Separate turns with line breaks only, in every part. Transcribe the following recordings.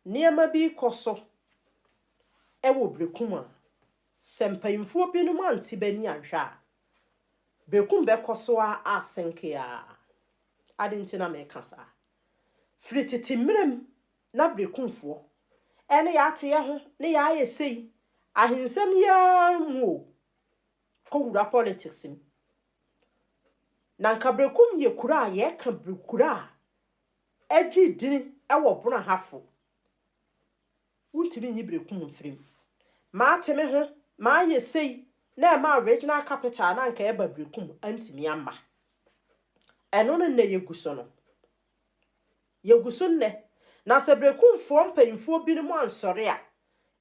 Nneɛma bi rekɔ so wɔ Berekum a, sɛ mpanyimfoɔ binom ante bɛ ani anhwɛ a, Berekum bɛkɔ so ara asenke ara. Adɛn nti na mereka saa? Firi tete mmerɛ mu na Berekumfoɔ ne yɛ ate yɛ ho, ne yɛ ayɛ sei, ahensɛm yi ara mu o, kɔwura politics mu. Na anka Berekum yɛ kuro a yɛka kuro a Egye din wɔ bona ha fo. Wontumi nyi berekum mfiri mu. Mate me ho, mayɛ sei na ɛmaa regional capital no anka ɛba berekum antumi amma. Ɛno ne nnɛ yɛgu so no. Yɛgu so nnɛ. Na sɛ berekumfoɔ mpanyimfoɔ binom ansɔre a,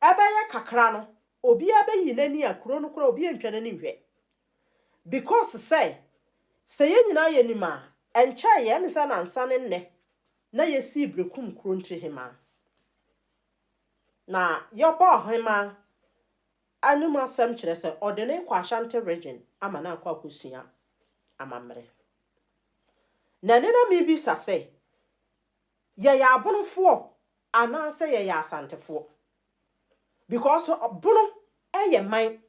ɛbɛyɛ kakra no, obiara bɛyi n'ani a kuro no koraa obi antwa n'ani nhwɛ. Because sɛ sɛ yɛn nyinaa yɛ nim a, ɛnkyɛe yɛ, ɛne sɛ na ansa ne nnɛ na yɛsii bere kum kuro ntiri hemaa. Na yɛbɔ ɔhemaa anom asɛm kyerɛ sɛ ɔde ne rekɔ Ashanti region ama no akɔ akɔsua amammerɛ. Na ɛne na mebisa sɛ, Yɛyɛ abonofoɔ anaasɛ yɛyɛ asantefoɔ? Because bono yɛ man,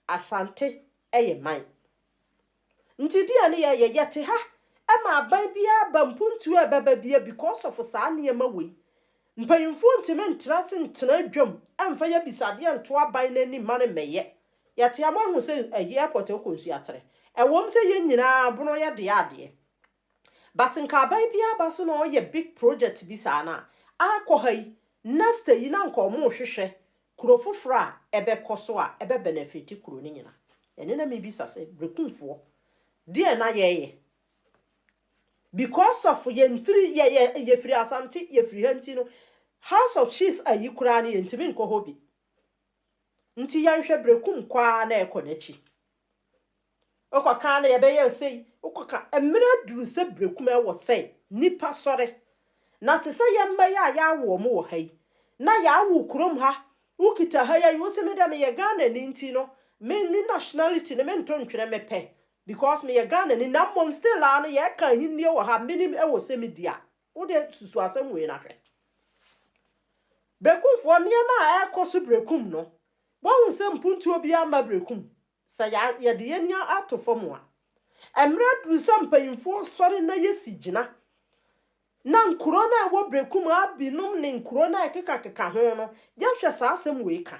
asante yɛ man. Nti deɛ ne yɛyɛ, yɛte ha ma aban biara aba mpuntuo a ɛbɛba biara because of saa nneɛma wei. Mpanyinfoɔ ntumi ntena ase ntena adwam mfa yɛ abisadeɛ nto aban no anim ma no mmɛyɛ. Yɛte ha moahu sɛ airport akɔ nsuatere. Ɛwom sɛ yɛn nyinaa bono yɛ deɛ adeɛ. But nka aban biara ba so na ɔyɛ big project bi saa no a, ah kɔ ha yi, next yi na nka wɔrehwehwɛ kuro foforɔ a ɛbɛkɔ so a ɛbɛ benefit kuro no nyina. Ɛne na mebisa sɛ Brekumfoɔ deɛn na yɛyɛ? Because of yɛn firi yɛ yɛ yɛfiri Asante yɛfiri ha nti no House of Chiefs ayi koraa no yɛntumi nkɔ hɔ bi. Nti yɛnhwɛ Brekum kɔ ara na ɛkɔ n'akyi. Wokɔ ka ara na yɛbɛyɛ wo sei, wokɔ ka mmerɛ aduru sɛ berɛ kumaa wɔ sɛ nnipa sɔre. Na te sɛ yɛn mma yi a yɛawo wɔn wɔ ha yi, na yɛawo kurom ha, wokita ha yi ayi, wo se me deɛ meyɛ Ghanani nti no, me me nationality no mento ntwene mepɛ because meyɛ Ghanani na mmom still ara no yɛka ahennie wɔ ha, menim ɛwɔ sɛ medi a. Wo deɛ susu asɛm wei no ahwɛ. Berekumfoɔ nneɛma a ɛrekɔ so Berekum no, woahu sɛ mpuntuo biara mma Berekum? Sɛ yɛde yɛn ani ato fam a, mmerɛ aduru sɛ mpanyimfoɔ sɔre na yɛsi gyina na nkuro no a ɛwɔ Berekum ara binom ne nkuro no a ɛkekakeka ho no, yɛhwɛ saa asɛm wei ka.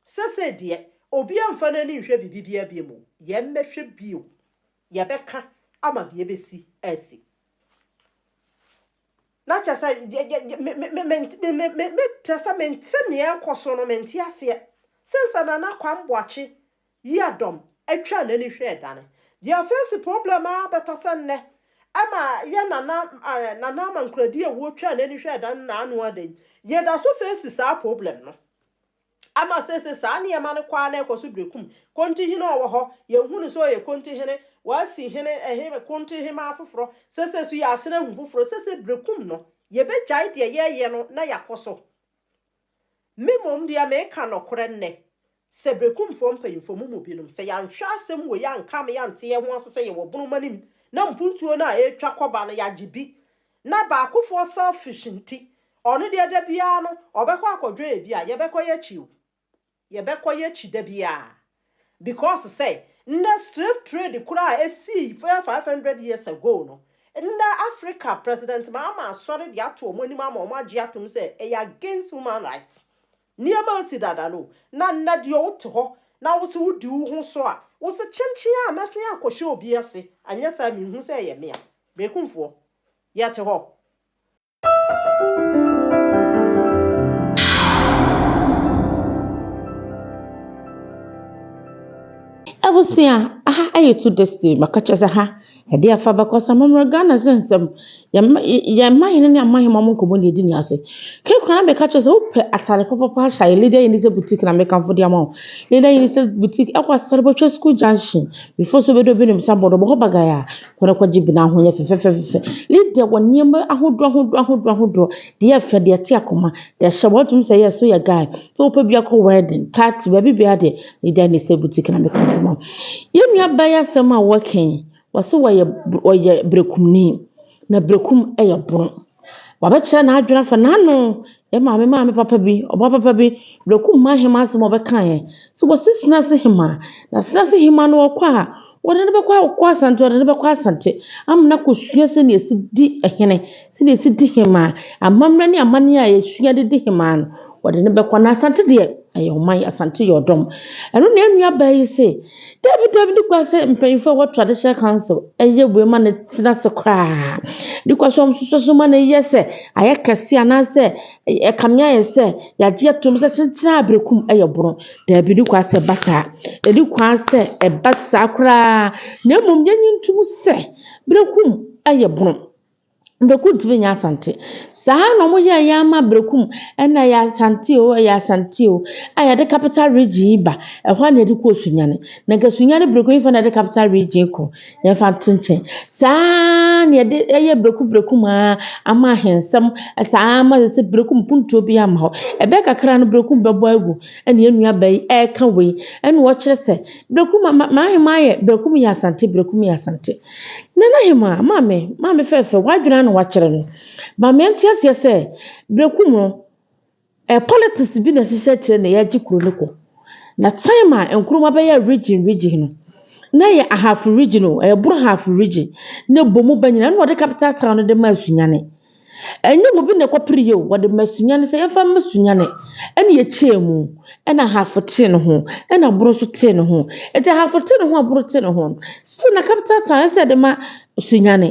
Sesei deɛ, obiara mfa n'ani nhwɛ biribi biara biom o, yɛmmɛhwɛ bio, yɛbɛka ama deɛ ɛbɛsi asi. na kyerɛ sɛ kyerɛ sɛ mente nea ɛrekɔ so no mente aseɛ sɛ sɛ Nana Kwame Boakye yi adɔm atwa n'ani hwɛ ɛdane deɛ afeesi problem ara bɛtɔ sɛ nnɛ ɛma yɛ Nana Nana Amankoradi awuo twa n'ani hwɛ ɛdane na ano ada yi yɛda so feesi saa problem no. Ama seesei saa nneɛma no kɔ ara na ɛkɔ so brɛ kum. Kontohene a ɔwɔ hɔ, yɛnhu no sɛ ɔyɛ kontohene. Wɔasi hene, ɛhe, kontohemmaa foforɔ. Seesei nso yɛasen ahu foforɔ. Seesei brɛ kum no, yɛbɛgyae deɛ yɛreyɛ no na yɛakɔ so. Me mmom deɛ, mereka nɔkorɛ nnɛ sɛ brɛ kumfoɔ mpanyimfoɔ, mo mu binom, sɛ yɛanhwɛ asɛm wei ankame ante yɛn ho ase sɛ yɛwɔ bonomanim na mpuntuo no a ɛretwa kɔba no yɛagye bi Na baakofoɔ selfish nti, ɔno deɛ da biara no ɔbɛkɔ akɔdwɛn ebi a, yɛbɛkɔ y'akyi o, yɛbɛkɔ y'akyi da biara, because sɛ, nnɛ slave trade koraa a esii bɛyɛ five hundred years ago no, nnɛ Africa President Mahama asɔre de ato wɔn anim ama wɔn agye atom sɛ ɛyɛ against human rights. Nneɛma ansi dada no o, na nnɛ deɛ wote hɔ na wose wodi wo ho so a, wose kyenkyen a mɛsen akɔhyɛ obi ase, anyɛ saa a menhu sɛ ɛyɛ me a,
Bekumfoɔ, yɛte hɔ. Abusua, aha ɛyɛ two destiny, maka kyerɛ sɛ ha ɛde afa bɛkɔ sɛ mɔmmerɛ Ghana sɛ nsɛm, yɛn mahene ne amahema mo nkɔmmɔ ne ɛdi ne ase. Kekora na meka kyerɛ sɛ wopɛ atare pɔpɔpɔ ahyɛ ayɛ Leader Unisel Boutique na mekamfo de ama wo. Leader Unisel Boutique ɛkɔ Asare Bɔtwa School Junction, before so bɛdɔ bi ne msa bɔdɔ bɔ hɔ bagaya. Hɔn akɔ gye bi na hɔn yɛ fɛfɛfɛfɛfɛ. Lydia wɔ nneɛma ahodoɔ ahodoɔ ahodoɔ ahodoɔ, deɛ ɛfɛ, deɛ ɛte akoma, deɛ ɛhyɛ bɔ, wotumi sɛ yes woyɛ guy sɛ wopɛ bi akɔ wedding, party, baabi biara deɛ Lydia na ɛsɛ boutique na meka asɛm a. Yɛn nua baa yi asɛm a wɔka yi, wɔse wɔyɛ wɔyɛ berekumni na berekum yɛ borɔn. Wabɛkyerɛ n'adwene afa n'ano Ema me maame papa bi, ɔba papa bi, Breku Mma Hema asɛm a ɔbɛkaeɛ. Sɛ wɔse Senase Hema, na Senase Hema no ɔkɔ a, wɔde no bɛkɔ ɔkɔ Asante, wɔde no bɛkɔ Asante ama no akɔsua sɛdeɛ yɛsi di hene, sɛdeɛ yɛsi di hema, amammerɛ ne amanneɛ a yɛsua de di hema no, wɔde no bɛkɔ. Na Asante deɛ, ɛyɛ ɔman, Asante yɛ ɔdɔm. Ɛno na yɛn nuabaa yi se, Dabi dabi ne kwa sɛ mpanyinfoɔ a ɛwɔ traditional council ɛyɛ wei ma no tena ase koraa because wɔn nso so ma no yɛ sɛ ayɛ kɛse anaasɛ ɛkame ayɛ sɛ yagye atom sɛ kyekyere a berekum ɛyɛ borɔ dabi ne kwa sɛ ɛba saa ɛne kwa sɛ ɛba saa koraa na mmom yɛnyi ntom sɛ berekum ɛyɛ borɔ. Berekum tumi nyɛ Asante. Saa ara na wɔyɛɛ yɛn ama Berekum na ɛyɛ Asante o, ɛyɛ Asante o, a yɛde capital region yi ba. Ɛhɔ ara na yɛde kɔ Osunyane. Na nka Osunyane Berekum yi fa na yɛde capital region yi kɔ. Yɛmfa nto nkyɛn. Saa ara na yɛde ɛyɛ Berekum Berekum ara ama ahensɛm. Saa ara ma sɛ Berekum puntuo bi ama hɔ. Ɛbɛyɛ kakra no Berekum bɛbɔ agu ɛne yɛn nua baa yi ɛreka wei. Ɛna ɔkyerɛ sɛ Berekum ma ma m'ahemaa yɛ Berekum yɛ Asante Berekum yɛ Asante. Nana Hemaa, Maame, maame fɛɛfɛ, w'adwene ara na wakyerɛ no. Ma meɛnte aseɛ sɛ, berɛ ku mu no, eh, politics bi na ɛhyehyɛ akyire na yɛagye kuro no kɔ. Na time a Nkrumah bɛyɛ region region no, na ɛyɛ ahafo region o, ɛyɛ Borɔhafo region, na ɛbɔ mu ba nyinaa, ɛna ɔde capital town no de maa Sunyani. Ɛnyɛ obi na ɛkɔpere yɛ o, wɔde ma sunyani sɛ yɛmfa mma sunyani. Ɛna yɛkyɛɛ mu, ɛna ahafo tee ne ho, ɛna aboro nso tee ne ho. Ɛti ahafo tee ne ho, aboro tee ne ho. Still na capital town ɛsɛ ɛde ma sunyani.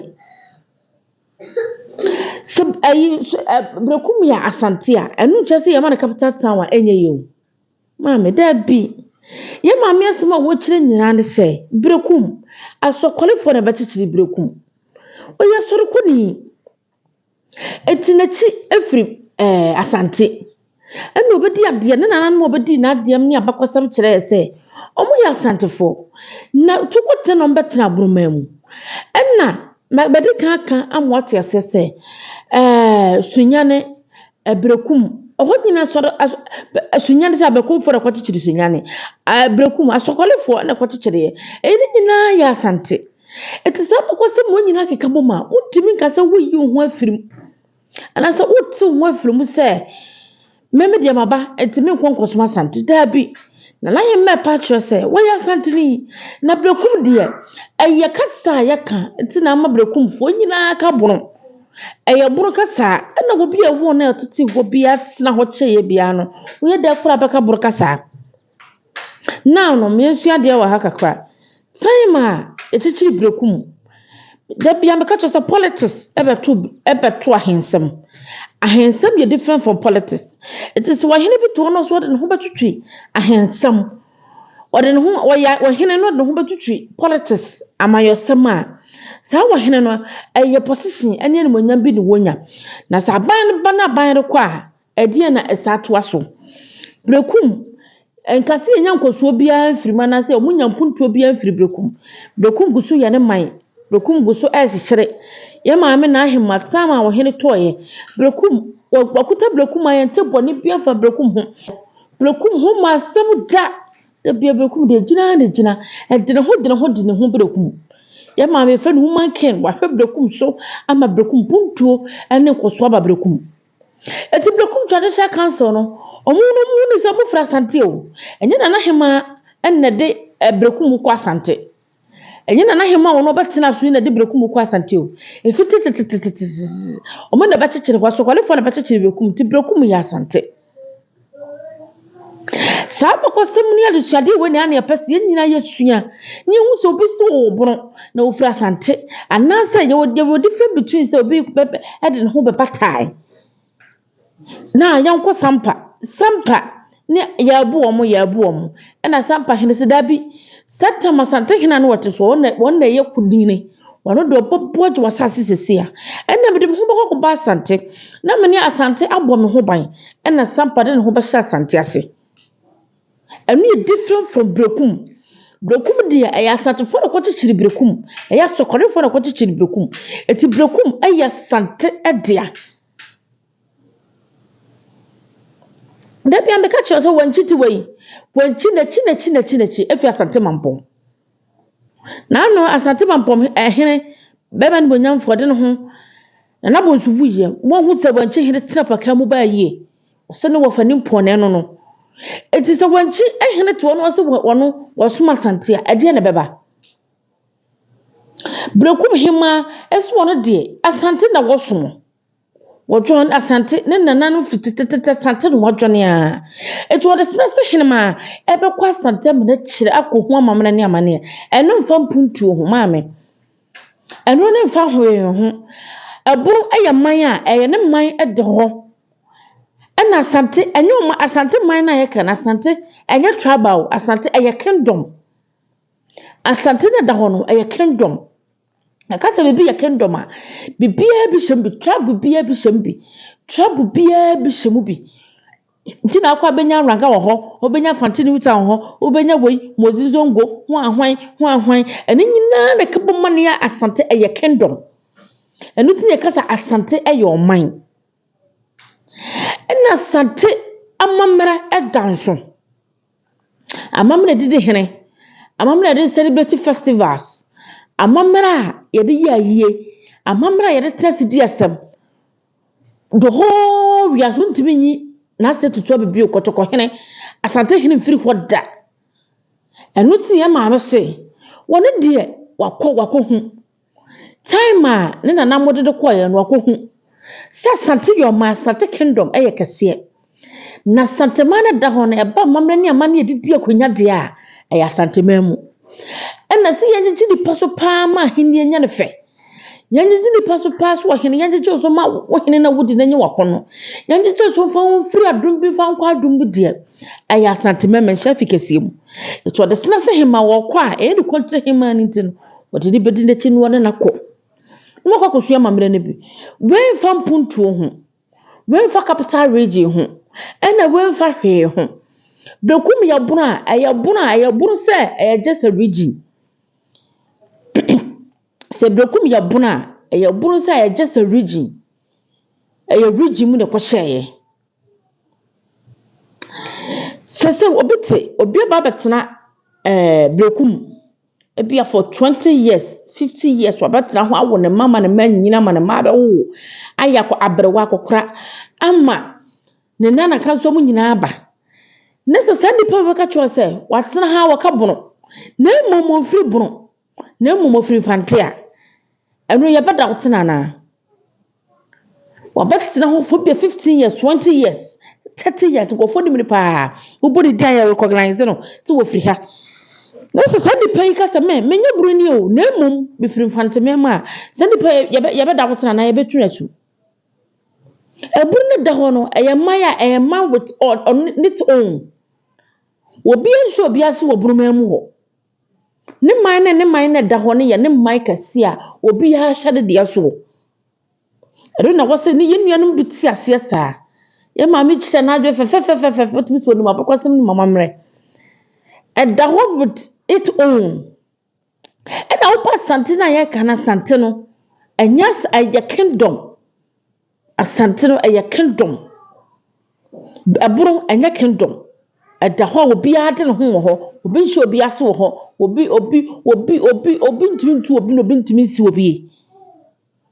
Sɛ ɛyi, bere ko mu yɛ asante a, ɛno nkyɛ sɛ yɛma no capital town a ɛnyɛ yɛ o. Maame, Dabi. Yɛn maame asɛm a wɔkyerɛ nyinaa ne sɛ, berekum. Asɔkɔlefoɔ na ɛbɛkyekyere berekum. Ɔyɛ asɔrekɔni. Ɛti n'akyi ɛfiri ɛɛ asante. Ɛna ɔbɛdi adeɛ, ne nananom a ɔbɛdii n'adeɛ ne abakɔsɛm kyerɛɛ sɛ, wɔyɛ asantefoɔ. Na Tukotɛ na wɔbɛtena Aborɔmaa mu. Ɛna, mɛde kan aka ama woate aseɛ sɛ, ɛɛ Sunyane Ɛbrɛku mu, ɛhɔ nyina asɔre asɔ bɛ asunyan sɛ abɛkofoɔ na ɛkɔkyekyere sunyan no. Ɛbrɛku mu, asɔkɔlefoɔ na ɛkɔkyekyereɛ. Ɛyi ne nyinaa yɛ Asante. Ɛnti saa abakɔsɛm wei nyinaa keka bom a, wontumi nka sɛ woreyi wo ho afiri mu. Anaasɛ worete wo ho afiri mu sɛ, me medeɛ maba, ɛnti menkɔ nkɔsom Asante. Daabi. Nana Ahemma ɛpa akyerɛ sɛ, wɔyɛ Asanteni. Na Brɛkum deɛ, ɛyɛ kasa a yɛka, ɛnti na ama Brɛkumfoɔ nyinaa ka bono. Ɛyɛ boro kasa a ɛna obi a ɛwɔ na ɛtete hɔ bi atena hɔ kyɛeɛ biara no woyɛ dɛ kora bɛka boro kasa a now no meɛsua adeɛ wɔ ha kakra time a ɛkyikyiri berɛku mu da bia meka kyerɛ sɛ politics ɛbɛto ɛbɛto ahensɛm ahensɛm yɛ different from politics ɛti sɛ ɔhene bi te hɔ na ɔsɛ ɔde ne ho bɛtwetwe ahensɛm Ɔde ne ho ɔya ɔhene no de ho bɛtwitwi politics amanyɔsɛm a saa ɔhene no ɛyɛ position ɛne animonyam bi na wɔnya na sɛ aban no ba na aban no kɔ a ɛdeɛ na ɛsa atoa so brekum nkasi yɛnya nkɔsoɔ biara mfiri mu anaasɛ wɔn nya mpuntuo biara mfiri brekum brekum gu so yɛ ne man brekum gu so ɛrekyekyere yɛ maame na ahema tam a ɔhene tɔɔyɛ brekum wɔkuta brekum a yɛn te bɔ ne biara fa brekum ho. Berekum ho ma asɛm da. Da bia berekum deɛ gyina ara na ɛgyina. Ɛde ne ho de ne ho de ne ho berekum. Yɛ maame yɛfrɛ no human king wahwɛ berekum so ama berekum puntuo ne nkɔsoɔ aba berekum. Ɛti berekum traditional council no ɔmo no ɔmo ni sɛ ɔmo firi asante o. Ɛnyɛ nana hemaa ɛna ɛde berekum kɔ asante. Ɛnyɛ Nanahemaa a wɔn ɔbɛtena aso yi na ɛde berekum kɔ Asante o. Efi tetetetetetete. Wɔn na ɛbɛkyekyere hɔ. Asɔkɔlefoɔ na ɛbɛkyekyere berekum nti berekum yɛ Asante. Saa abakɔsɛm ne adesuadeɛ wei na ɛa na yɛpɛ sɛ yɛn nyinaa yɛsua na yɛhu sɛ obi si wɔ ɔbono na ɔfiri Asante anaasɛ yɛwɔ yɛwɔ different between sɛ obi bɛ ɛde ne ho bɛbatae. Na yɛnkɔ Sampa. Sampa ne yɛabu wɔn, yɛabu wɔn. Ɛna Sampa hene sɛ, Dabi, Satam Asantehene a na ɔte so, wɔn na wɔn na ɛyɛ kunini. Wɔn deɛ ɔbɛboa gye w'asase sisi a. Ɛna mede me ho bɛkɔ akɔba Asante. Na me ne Asante abɔ me ho ban. Ɛna Sampa de ne ho bɛhyɛ Asante ase. Ɛno yɛ different from Berekum. Berekum deɛ ɛyɛ Asantefoɔ na ɛkɔkyekyere Berekum. Ɛyɛ Asɔkɔrefoɔ na ɛkɔkyekyere Berekum. Ɛti Berekum ɛyɛ Asante dea. Da biara meka kyerɛ no sɛ wankyi ti wei, wankyi n'akyi n'akyi n'akyi n'akyi afi Asante Mampɔn. Na ano Asante Mampɔn ɛhene bɛma animuonyamfoɔ de ne ho Nana Bonsu wuiɛ wɔhu sɛ wankyi hene tena paka mu baa yie ɔsɛ ne wɔfa ne mpɔnee no no. Eti sɛ wankyi hene toɔ no ɔsɛ wɔno wɔsom Asante a ɛdeɛ na ɛbɛba? Berekum hemaa nso wɔn deɛ, Asante na wɔsom. Wɔdwɔn Asante, ne nananom firi tetetete Asante na wɔadwane ara. Nti wɔde srɛ sɛ henemaa ɛbɛkɔ Asante amena akyire akɔhu amammerɛ ne amaneɛ. Ɛno mfa mpuntuo ho maame. Ɛno ne mfa hwee ho. Ɛbono yɛ man a ɛyɛ ne man de hɔ. Ɛna Asante, ɛnyɛ wɔn Asante man no a yɛka no, Asante ɛnyɛ tribal, Asante ɛyɛ kingdom. Asante no a ɛda hɔ no, ɛyɛ kingdom. Yɛka sɛ biribi yɛ kingdom a, biribiara bi hyɛ mu bi. Tribe biara bi hyɛ mu bi. Tribe biara bi hyɛ mu bi. Nti na akɔ abɛnya Ranga wɔ hɔ, wobɛnya Fante New Town wɔ hɔ, wobɛnya wei, Mozi Zongo, ho a hwan, ho a hwan. Ɛno nyinaa na ɛka bom ma no yɛ Asante, ɛyɛ kingdom. Ɛno nti na yɛka sɛ Asante yɛ ɔman. Ɛnna Asante amammerɛ da nso. Amammerɛ didi hene, amammerɛ a yɛde celebrate festivals, amammerɛ a yɛde yɛ ayie, amammerɛ a yɛde tena ase di asɛm. The whole wiase wontumi nyi n'asɛ tutu abɛ bio, kɔtɔkɔ hene, Asante hene mfiri hɔ da. Ɛno nti yɛn maame se, wɔne deɛ wakɔ wakɔhu. Time a ne nana mo de no kɔeɛ no ɔkɔhu sɛ Asante Yoma, Asante Kingdom yɛ kɛseɛ. Na Asanteman no da hɔ no ɛba amammerɛ ne amanneɛ a ɛdidi akonnwa deɛ a ɛyɛ Asanteman mu. Ɛna sɛ yɛngyegye nipa so paa ma ahennie nya ne fɛ. Yɛngyegye nipa so paa so ɔhene yɛngyegye so ma wo hene na wodi na nye w'akɔnnɔ. Yɛngyegye so mfa wo mfiri adom bi mfa nkɔ adom bi deɛ ɛyɛ Asanteman manhyia fi kɛseɛ mu. Nti ɔde sena sɛ hemaa wɔkɔ a ɛyɛ ne kɔntire hemaa no nti no wɔde no bɛdi n'akyi na wɔne no akɔ na wɔakɔ akɔsua amammerɛ no bi. Wɔamfa mpuntuo ho, wɔamfa capital region ho, ɛna wɔamfa hwee ho. Bekum yɛ bono a, ɛyɛ bono a, ɛyɛ bono sɛ ɛyɛ just a region. Sɛ Bekum yɛ bono a, ɛyɛ bono sɛ ɛyɛ just a region. Ɛyɛ region mu na ɛkɔhyɛeɛ. Sɛ sɛ obi te, obi aba abɛtena ɛɛ Bekum. Ebia for twenty years, fifty years wabɛtena hɔ awo ne mma ama ne mma anyini ama ne mma abɛwowo ayɛ akɔ aberewa akɔkora ama ne nana ka nso mu nyinaa aba. Ne sɛ saa nipa bi bɛka kyerɛ sɛ watena ha wɔka bono na mmom ofiri bono na mmom ofiri mfante a Ɛno yɛ bɛda wo tena anaa? Wabɛtena hɔ for bia fifteen years, twenty years, thirty years, nkurɔfoɔ nim no paa. Wobɔ ne din a yɛ recognize no sɛ wɔfiri ha. Na sɛ saa nipa yi ka sɛ me, menyɛ buroni o, na mmom mefiri mfanteman mu a, saa nipa yi yɛbɛ yɛbɛda wo tena anaa yɛbɛtu no asu. Ɛburu no da hɔ no, ɛyɛ mman a ɛyɛ mman with on, on its own. Obiara nhyɛ obiara ase wɔ buruman mu hɔ. Ne man ne ne man na ɛda hɔ no yɛ ne man kɛse a obiara hyɛ ne deɛ soɔ. Ɛno na wɔsɛ ne yɛn nuanom bi te aseɛ saa. Yɛn maame kyerɛ n'adwene fɛfɛɛfɛfɛɛfɛ wotumi sɛ onim abakɔsɛm ne mamammerɛ. Ɛda hɔ with it own. Ɛna wopa asante no a yɛka no asante no ɛnyɛ ɛyɛ kingdom. Asante no ɛyɛ kingdom. Ɛbono ɛnyɛ kingdom. Ɛda hɔ a obiara de ne ho wɔ hɔ. Obi nhyɛ obi ase wɔ hɔ. Obi obi obi obi obi ntumi ntu obi na obi ntumi nsi obi.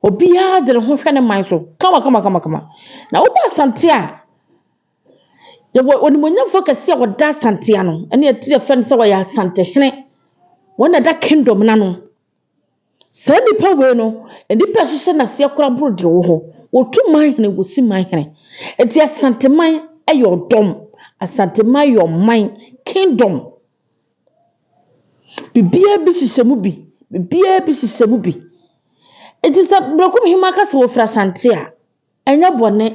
Obiara de ne ho hwɛ ne man so kama kama kama kama. Na woba asante a, yɛwɔ onimuonyamfoɔ kɛseɛ a ɔda asante ano. Ɛne ɛte yɛfrɛ no sɛ ɔyɛ asantehene. Wɔn na ɛda kingdom no ano. Saa nnipa wei no, nnipa a ɛhyehyɛ no aseɛ koraa boro deɛ ɔwɔ hɔ. Wɔtu manhene, wɔsi manhene. Enti Asanteman yɛ ɔdɔm. Asanteman yɛ ɔman, kingdom. Biribiara bi hyehyɛ mu bi. Biribiara bi hyehyɛ mu bi. Enti sɛ Berekum Hemaa ka sɛ wɔfiri Asante a, Ɛnyɛ bɔne.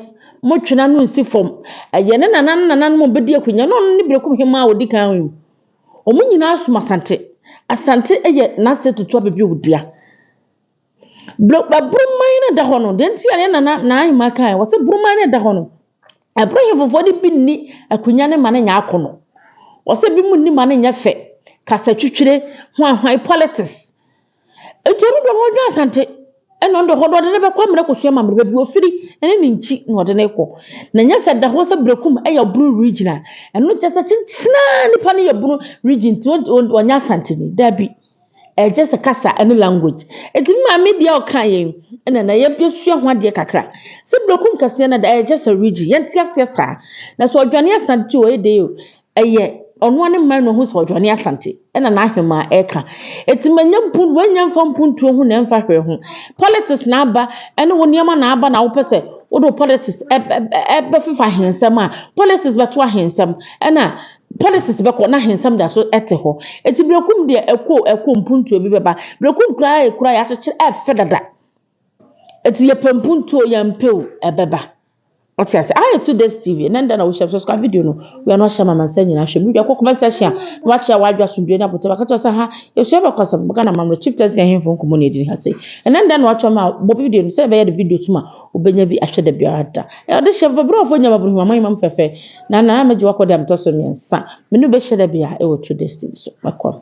Montwe n'ano nsi fam. Ɛyɛ ne nana ne nananom a wɔbɛdi akonnwa no. Ɔno ne Berekum Hemmaa a ɔdi kan yi. Wɔn nyinaa som Asante. Asante yɛ n'ase tutu aba bi a ɔdua. Buroman no da hɔ no, deɛ nti a ne nana n'ahemmaa kae, wɔse buroman no da hɔ no, ɛboro hefofoɔ de bi nni akonnwa no ma no nyɛ akono. Wɔse bi mu nni ma no nyɛ fɛ. Kasatwitwire, hwanhwan politics. Enti ɔno deɛ ɔno ɔdwene Asante ɛna ɔno deɛ hɔ no ɔde no bɛkɔ ama no akɔsua amammerɛ baabi ɔfiri ɛne ne nkyi na ɔde no rekɔ na ɛnyɛ sɛ ɛda hɔ sɛ Berekum yɛ Bunu region a ɛno kyerɛ sɛ kyenkyenaa nipa no yɛ Bunu region nti ɔnyɛ Asanteni daabi ɛyɛ just kasa ɛne language ɛti me maame deɛ ɔka yɛn ɛna na yɛsua ho adeɛ kakra sɛ Berekum kɛseɛ no da ɛyɛ just a region yɛnte aseɛ saa na sɛ ɔdwane Asante o ɛyɛ dɛ o Ɛyɛ ɔno ara ne mma no ho sɛ ɔdwane Asante na n'ahemaa ɛka. Eti manya mpu wanya mfa mpuntuo ho na ɛmfa hwee ho. Politics na aba ɛne wo nneɛma na aba na wopɛ sɛ wode wo politics ɛbɛfefa ahensɛm a, politics bɛto ahensɛm ɛna politics bɛkɔ na ahensɛm da so ɛte hɔ. Eti Berekum deɛ ɛkɔ o ɛkɔ o mpuntuo bi bɛba. Berekum koraa yɛ kuro a yɛakyekyere ɛfɛ dada. Eti yɛpɛ mpuntuo yɛmpɛ o ɛbɛba ɔte ase ayɛ ah, to this tv ɛnɛ nda na wohyɛ so sika video no wia no ahyɛ mama nsa nyinaa hwɛ mu dwa kɔ comment section a na wakyerɛ wadwa asomdwe na abotɔ bɛka kyerɛ sɛ ha yɛsua bɛkɔ asɛm bɛka na mamrɛ chief tɛsi ahemfo nkɔmmɔ na ɛdini ha sei ɛnɛ nda na watwa ma bɔ video no sɛ ɛbɛyɛ de video tuma wobɛnya bi ahwɛ da biara da ɛde hyɛ babrɔfoɔ nyama boro hima mamam fɛfɛ na na mɛgye wakɔ de amtɔ so mmiɛnsa mene bɛhyɛ da bia ɛwɔ to destiny so mɛkɔ